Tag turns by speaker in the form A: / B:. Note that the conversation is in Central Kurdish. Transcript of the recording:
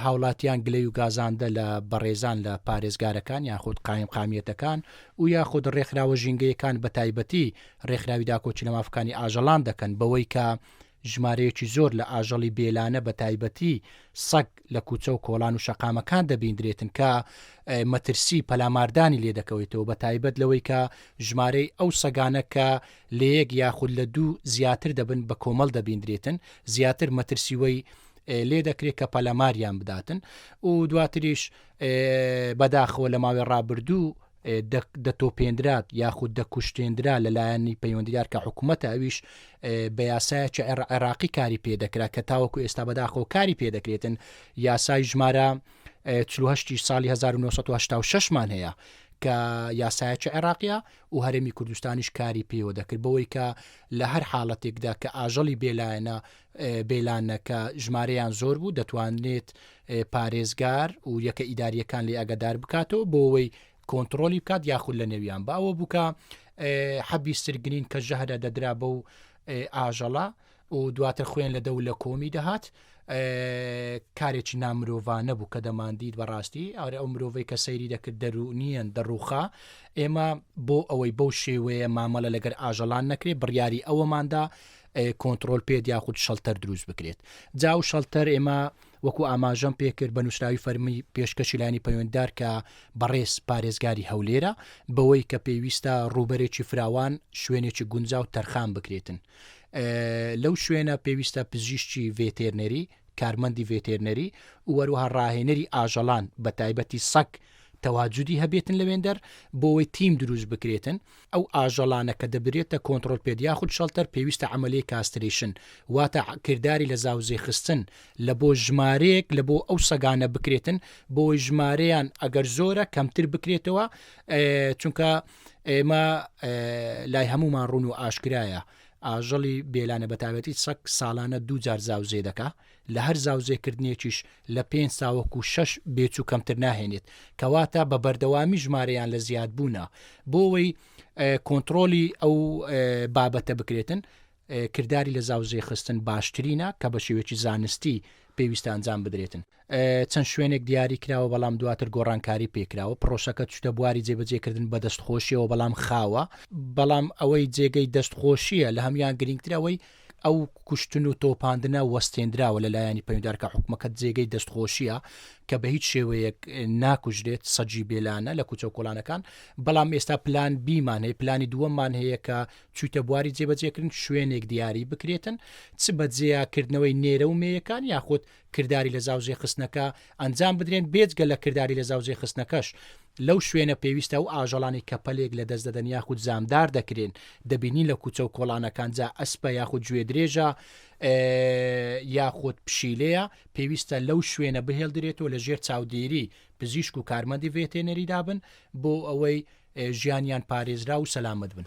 A: هاوڵاتیان گلەی و گازاندە لە بەڕێزان لە پارێزگارەکان یاخود قایمقامیەتەکان و یاخود ڕێکخراوە ژینگەیەکان بە تایبەتی ڕێکخراوی داکۆکی لە مافەکانی ئاژەڵان دەکەن بەوەی کە ژمارەیەکی زۆر لە ئاژەڵی بێلانە بە تایبەتی سەگ لە کوچە و کۆڵان و شەقامەکان دەبیندرێتن کە مەترسی پەلاماردانی لێ دەکەوێتەوە بە تایبەت لەوەی کە ژمارەی ئەو سەگانە کە لە یەک یاخود لە دوو زیاتر دەبن بە کۆمەڵ دەبیندرێتن زیاتر مەترسیوەی لێ دەکرێت کە پەلەماریان بداتن و دواتریش بەداخەوە لە ماوەی ڕابردوو دەتۆپێنرات یاخود دەکوشتێنرا لە لایەنی پەیوەندیدار کە حکوومەتە ئەویش بە یاسایەکی عێراقی کاری پێدەکرا کە تاوەکو ئێستا بەداخۆ کاری پێدەکرێتن یاسای ژمارە 1970 ساڵی 1970 مان هەیە کە یاسایەکی عێراقیە و هەرمی کوردستانیش کاری پێوە دەکرد بەوەی کە لە هەر حاڵەتێکدا کە ئاژەڵی بێلایەنە بیلانەکە ژمارەیان زۆر بوو دەتوانرێت پارێزگار و یەکە ئیداریەکان لێ ئەگەدار بکاتەوە بۆەوەی کۆنتترۆلی بکات یاخود لە نێویان بە ئەوە بووکە حەبی سرگرین کە ژەهرە دەدرا بە و ئاژەڵە و دواتر خوێن لە دەو لە کۆمی دەهات کارێکی نامرۆڤانە بوو کە دەماندید بەڕاستی ئارە ئەو مرۆڤی کە سەیری دەکرد دەرونیان دەڕوخا ئێمە بۆ ئەوەی بەو شێوەیە مامەڵە لەگەر ئاژەڵان نەکرێ بڕیاری ئەوەماندا کۆنتترۆل پێت یاخود شەلتەر دروست بکرێت جا و شەلتەر ئێمە وەکو ئاماژەم پێکرد بە نووسراوی فەرمی پێشکەشیلانی پەیوەنددار کە بەڕێز پارێزگاری هەولێرە بەوەی کە پێویستە ڕووبەرێکی فراوان شوێنێکی گونجا و تەرخان بکرێتن لەو شوێنە پێویستە پزیشتی ڤێتێرنەری کارمەندی ڤێتێرنەری وەروها ڕاهێنەری ئاژەڵان بە تایبەتی سەک تەواجودی هەبێتن لەوێندەر بۆەوەی تیم دروست بکرێتن ئەو ئاژەڵانە کە دەبرێتە کۆنتڕۆل پێت یاخود شەڵتەر پێویستە عەمەلیەی کاسترەیشن واتە کرداری لە زاوزێ خستن لە بۆ ژمارەیەک لە بۆ ئەو سەگانە بکرێتن بۆی ژمارەیان ئەگەر زۆرە کەمتر بکرێتەوە چونکە ئێمە لای هەمومان ڕون و ئاشکرایە ئاژەڵی بێلانە بەتاوەتی سەک ساڵانە دوو جار زاوزێ دەکا لە هەر زاوزێکردنێکیش لە پێنج تا وەکو شەش بێچوو کەمتر ناهێنێت کەواتە بە بەردەوامی ژمارەیان لە زیادبوونە بۆوەی کۆنتترۆلی ئەو بابەتە بکرێتن کردداری لە زاوزێ خستن باشترینە کە بە شێوێکی زانستی پێویستە ئەنجام بدرێتن چەند شوێنێک دیاری کراوە بەڵام دواتر گۆڕانکاری پێکراوە پرۆسەکە چشتە بواری جێبەجێکردن بە دەستخۆشیەوە بەڵام خاوە بەڵام ئەوەی جێگەی دەستخۆشیە لە هەمان گرنگترەوەی ئەو کوشتن و تۆپاندنە وەستێندراوە لە لایەنی پەیوەندار کە حکومەکەت جێگەی دەستخۆشیە کە بە هیچ شێوەیەک ناکوژرێت سەجی بێلانە لە کوچە و کۆلانەکان بەڵام ئێستا پلان بیمان هەیە پلانی دووەمان هەیە کە چویتە بواری جێبەجێکردن شوێنێک دیاری بکرێتن چ بە جێیاکردنەوەی نێرە و مێیەکان یاخود کرداری لەزاوزێخستنەکە ئەنجام بدرێن، بێجگە لە کرداری لەزاوزێخستنەکەش لەو شوێنە پێویستە ئەو ئاژەڵانەی کە پەلێک لەدەست دەدەن یاخود زامدار دەکرێن دەبینین لە کوچە و کۆڵانەکان جا ئەسپە یاخود گوێدرێژە یاخود پشیلەیە پێویستە لەو شوێنە بهێڵدرێتەوە لە ژێر چاودێری پزیشک و کارمەندی ڤێتێنەری دابن بۆ ئەوەی ژیانیان پارێزرا و سەلامت بن.